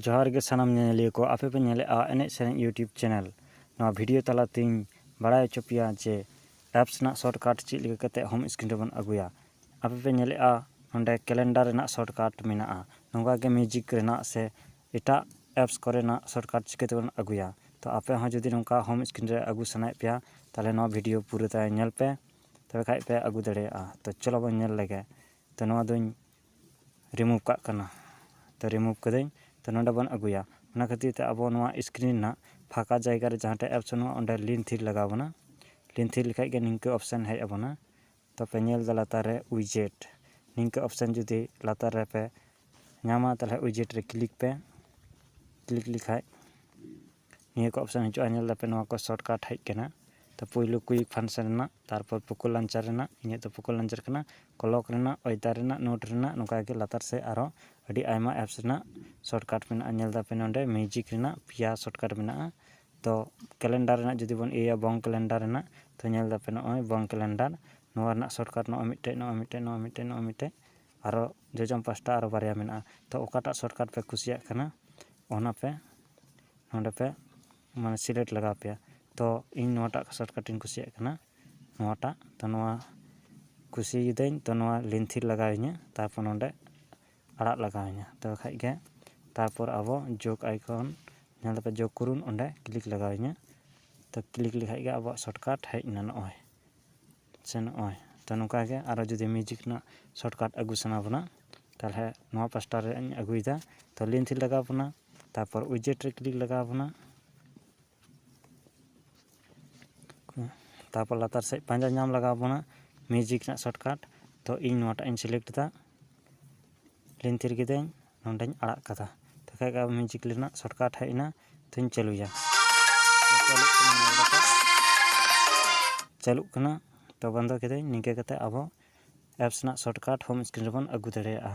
ᱡᱚᱦᱟᱨ ᱜᱮ ᱥᱟᱱᱟᱢ ᱧᱮᱧᱮᱞᱤᱭᱟᱹ ᱠᱚ ᱟᱯᱮ ᱯᱮ ᱧᱮᱞᱮᱫᱼᱟ ᱮᱱᱮᱡ ᱥᱮᱨᱮᱧ ᱤᱭᱩᱴᱩᱵᱽ ᱪᱮᱱᱮᱞ ᱱᱚᱣᱟ ᱵᱷᱤᱰᱤᱭᱳ ᱛᱟᱞᱟᱛᱤᱧ ᱵᱟᱲᱟᱭ ᱦᱚᱪᱚ ᱯᱮᱭᱟ ᱡᱮ ᱮᱯᱥ ᱨᱮᱱᱟᱜ ᱥᱚᱨᱴᱠᱟᱴ ᱪᱮᱫ ᱞᱮᱠᱟ ᱠᱟᱛᱮᱫ ᱦᱳᱢ ᱥᱠᱨᱤᱱ ᱨᱮᱵᱚᱱ ᱟᱹᱜᱩᱭᱟ ᱟᱯᱮ ᱯᱮ ᱧᱮᱞᱮᱫᱼᱟ ᱱᱚᱸᱰᱮ ᱠᱮᱞᱮᱱᱰᱟᱨ ᱨᱮᱱᱟᱜ ᱥᱚᱨᱴᱠᱟᱴ ᱢᱮᱱᱟᱜᱼᱟ ᱱᱚᱝᱠᱟ ᱜᱮ ᱢᱤᱭᱩᱡᱤᱠ ᱨᱮᱱᱟᱜ ᱥᱮ ᱮᱴᱟᱜ ᱮᱯᱥ ᱠᱚᱨᱮᱱᱟᱜ ᱥᱚᱨᱴᱠᱟᱴ ᱪᱤᱠᱟᱹ ᱛᱮᱵᱚᱱ ᱟᱹᱜᱩᱭᱟ ᱛᱚ ᱟᱯᱮ ᱦᱚᱸ ᱡᱩᱫᱤ ᱱᱚᱝᱠᱟ ᱦᱳᱢ ᱥᱠᱨᱤᱱ ᱨᱮ ᱟᱹᱜᱩ ᱥᱟᱱᱟᱭᱮᱫ ᱯᱮᱭᱟ ᱛᱟᱦᱚᱞᱮ ᱱᱚᱣᱟ ᱵᱷᱤᱰᱤᱭᱳ ᱯᱩᱨᱟᱹᱴᱟᱭ ᱧᱮᱞ ᱯᱮ ᱛᱚᱵᱮ ᱠᱷᱟᱱ ᱯᱮ ᱟᱹᱜᱩ ᱫᱟᱲᱮᱭᱟᱜᱼᱟ ᱛᱚ ᱪᱚᱞᱚ ᱵᱚᱱ ᱧᱮᱞ ᱞᱮᱜᱮ ᱛᱚ ᱱᱚᱣᱟ ᱫᱚᱧ ᱨᱤᱢᱩᱵᱷ ᱠᱟᱜ ᱠᱟᱱᱟ ᱛᱚ ᱨᱤᱢᱩᱵᱷ ᱠᱟᱹᱫᱟᱹᱧ ᱛᱚ ᱱᱚᱰᱮ ᱵᱚᱱ ᱟᱹᱜᱩᱭᱟ ᱚᱱᱟ ᱠᱷᱟᱹᱛᱤᱨ ᱛᱮ ᱟᱵᱚ ᱱᱚᱣᱟ ᱤᱥᱠᱨᱤᱱ ᱨᱮᱱᱟᱜ ᱯᱷᱟᱸᱠᱟ ᱡᱟᱭᱜᱟ ᱨᱮ ᱡᱟᱦᱟᱸ ᱴᱷᱮᱡ ᱮᱯᱥ ᱵᱟᱹᱱᱩᱜᱼᱟ ᱚᱸᱰᱮ ᱞᱤᱱ ᱛᱷᱤᱨ ᱞᱟᱜᱟᱣ ᱵᱚᱱᱟ ᱞᱤᱱ ᱛᱷᱤᱨ ᱞᱮᱠᱷᱟᱡ ᱜᱮ ᱱᱤᱝᱠᱟᱹ ᱚᱯᱷᱥᱮᱱ ᱦᱮᱡ ᱟᱵᱚᱱᱟ ᱛᱚᱯᱮ ᱧᱮᱞ ᱫᱟ ᱞᱟᱛᱟᱨ ᱨᱮ ᱩᱭᱡᱮᱴ ᱱᱤᱝᱠᱟᱹ ᱚᱯᱷᱥᱮᱱ ᱡᱩᱫᱤ ᱞᱟᱛᱟᱨ ᱨᱮᱯᱮ ᱧᱟᱢᱟ ᱛᱟᱦᱚᱞᱮ ᱩᱭᱡᱮᱴ ᱨᱮ ᱠᱞᱤᱠ ᱯᱮ ᱠᱞᱤᱠ ᱞᱮᱠᱷᱟᱡ ᱱᱤᱭᱟᱹ ᱠᱚ ᱚᱯᱷᱥᱮᱱ ᱦᱤᱡᱩᱜᱼᱟ ᱧᱮᱞ ᱫᱟᱯᱮ ᱱᱚᱣᱟ ᱠᱚ ᱥᱚᱨᱴ ᱠᱟᱴ ᱦᱮᱡ ᱠᱟᱱᱟ ᱛᱚ ᱯᱳᱭᱞᱳ ᱠᱩᱭᱤᱠ ᱯᱷᱟᱱᱥᱮᱱ ᱨᱮᱱᱟᱜ ᱛᱟᱨᱯᱚᱨ ᱯᱳᱠᱳ ᱞᱚᱱᱪᱟᱨ ᱨᱮᱱᱟᱜ ᱤᱧᱟᱹᱜ ᱫᱚ ᱯᱳᱠᱳ ᱞᱚᱱᱪᱟᱨ ᱠᱟᱱᱟ ᱠᱞᱚᱠ ᱨᱮᱱᱟᱜ ᱚᱭᱮᱫᱟᱨ ᱨᱮᱱᱟᱜ ᱱᱳᱴ ᱨᱮᱱᱟᱜ ᱱᱚᱝᱠᱟ ᱜᱮ ᱞᱟᱛᱟᱨ ᱥᱮᱫ ᱟᱨᱚ ᱟᱹᱰᱤ ᱟᱭᱢᱟ ᱮᱯᱥ ᱨᱮᱱᱟᱜ ᱥᱚᱨᱴᱠᱟᱨᱴ ᱢᱮᱱᱟᱜᱼᱟ ᱧᱮᱞ ᱫᱟᱯᱮ ᱱᱚᱰᱮ ᱢᱤᱭᱩᱡᱤᱠ ᱨᱮᱱᱟᱜ ᱯᱮᱭᱟ ᱥᱚᱨᱴᱠᱟᱨᱴ ᱢᱮᱱᱟᱜᱼᱟ ᱛᱚ ᱠᱮᱞᱮᱱᱰᱟᱨ ᱨᱮᱱᱟᱜ ᱡᱩᱫᱤ ᱵᱚᱱ ᱤᱭᱟᱹᱭᱟ ᱵᱚᱝ ᱠᱮᱞᱮᱱᱰᱟᱨ ᱨᱮᱱᱟᱜ ᱛᱚ ᱧᱮᱞ ᱫᱟᱯᱮ ᱱᱚᱜᱼᱚᱭ ᱵᱚᱝ ᱠᱮᱞᱮᱱᱰᱟᱨ ᱱᱚᱣᱟ ᱨᱮᱱᱟᱜ ᱥᱚᱨᱴᱠᱟᱨᱴ ᱱᱚᱜᱼᱚᱭ ᱢᱤᱫᱴᱮᱡ ᱱᱚᱜᱼᱚᱭ ᱢᱤᱫᱴᱮᱡ ᱱᱚᱜᱼᱚᱭ ᱢᱤᱫᱴᱮᱡ ᱱᱚᱜᱼᱚᱭ ᱢᱤᱫᱴᱮᱡ ᱟᱨᱚ ᱡᱚᱡᱚᱢ ᱯᱟᱥᱴᱟ ᱟᱨᱚ ᱵᱟᱨᱭᱟ ᱢᱮᱱᱟᱜᱼᱟ ᱛᱚ ᱚᱠᱟᱴᱟᱜ ᱥᱚᱨᱴᱠᱟᱨᱴ ᱯᱮ ᱠᱩᱥᱤᱭᱟᱜ ᱠᱟᱱᱟ ᱚᱱᱟᱯᱮ ᱱᱚᱰᱮᱯᱮ ᱢᱟᱱᱮ ᱥᱤᱞᱮᱠᱴ ᱞᱟᱜᱟᱣ ᱯᱮᱭᱟ ᱛᱚ ᱤᱧ ᱱᱚᱣᱟᱴᱟᱜ ᱥᱚᱨᱴᱠᱟᱴ ᱤᱧ ᱠᱩᱥᱤᱭᱟᱜ ᱠᱟᱱᱟ ᱱᱚᱣᱟᱴᱟᱜ ᱛᱚ ᱱᱚᱣᱟ ᱠᱩᱥᱤᱭᱟᱫᱟᱹᱧ ᱛᱚ ᱱᱚᱣᱟ ᱞᱮᱱᱛᱷᱤ ᱞᱟᱜᱟᱣ ᱤᱧᱟᱹ ᱛᱟᱨᱯᱚᱨ ᱱᱚᱰᱮ ᱟᱲᱟᱜ ᱞᱟᱜᱟᱣ ᱤᱧᱟᱹ ᱛᱚᱵᱮ ᱠᱷᱟᱱ ᱜᱮ ᱛᱟᱨᱯᱚᱨ ᱟᱵᱚ ᱡᱳᱜᱽ ᱟᱭᱠᱚᱱ ᱡᱟᱦᱟᱸ ᱞᱮᱠᱟ ᱡᱳᱜᱽ ᱠᱚᱨᱩᱱ ᱚᱸᱰᱮ ᱠᱞᱤᱠ ᱞᱟᱜᱟᱣ ᱤᱧᱟᱹ ᱛᱚ ᱠᱞᱤᱠ ᱞᱮᱠᱷᱟᱱ ᱜᱮ ᱟᱵᱚᱣᱟᱜ ᱥᱚᱨᱴᱠᱟᱴ ᱦᱮᱡ ᱮᱱᱟ ᱱᱚᱜᱼᱚᱭ ᱥᱮ ᱱᱚᱜᱼᱚᱭ ᱛᱚ ᱱᱚᱝᱠᱟ ᱜᱮ ᱟᱨᱚ ᱡᱩᱫᱤ ᱢᱤᱭᱩᱡᱤᱠ ᱨᱮᱱᱟᱜ ᱥᱚᱨᱴᱠᱟᱴ ᱟᱹᱜᱩ ᱥᱟᱱᱟ ᱵᱚᱱᱟ ᱛᱟᱦᱚᱞᱮ ᱱᱚᱣᱟ ᱯᱟᱥᱴᱟ ᱨᱮᱭᱟᱜ ᱤᱧ ᱟᱹᱜᱩᱭᱮᱫᱟ ᱛᱚ ᱞᱮᱱᱛᱷᱤ ᱞᱟᱜᱟᱣ ᱵᱚᱱᱟ ᱛᱟᱨᱯᱚᱨ ᱩᱡᱮᱴ ᱨᱮ ᱠᱞᱤᱠ ᱞᱟᱜᱟᱣ ᱵᱚᱱᱟ ᱛᱟᱨᱯᱚᱨ ᱞᱟᱛᱟᱨ ᱥᱮᱫ ᱯᱟᱸᱡᱟ ᱧᱟᱢ ᱞᱟᱜᱟᱣ ᱵᱚᱱᱟ ᱢᱤᱣᱡᱤᱠ ᱨᱮᱱᱟᱜ ᱥᱚᱨᱴᱠᱟᱴ ᱛᱚ ᱤᱧ ᱱᱚᱣᱟᱴᱟᱜ ᱤᱧ ᱥᱤᱞᱮᱠᱴ ᱮᱫᱟ ᱞᱤᱱ ᱛᱷᱤᱨ ᱠᱤᱫᱟᱹᱧ ᱱᱚᱰᱮᱧ ᱟᱲᱟᱜ ᱠᱟᱫᱟ ᱛᱚᱠᱷᱚᱡ ᱜᱮ ᱢᱤᱣᱡᱤᱠ ᱨᱮᱱᱟᱜ ᱥᱚᱨᱴᱠᱟᱴ ᱦᱮᱡ ᱮᱱᱟ ᱛᱚᱧ ᱪᱟᱹᱞᱩᱭᱟ ᱪᱟᱹᱞᱩᱜ ᱠᱟᱱᱟ ᱛᱚ ᱵᱚᱱᱫᱚ ᱠᱤᱫᱟᱹᱧ ᱱᱤᱝᱠᱟᱹ ᱠᱟᱛᱮ ᱟᱵᱚ ᱮᱯᱥ ᱨᱮᱱᱟᱜ ᱥᱚᱨᱴᱠᱟᱴ ᱦᱳᱢ ᱥᱠᱨᱤᱱ ᱨᱮᱵᱚᱱ ᱟᱹᱜᱩ ᱫᱟᱲᱮᱭᱟᱜᱼᱟ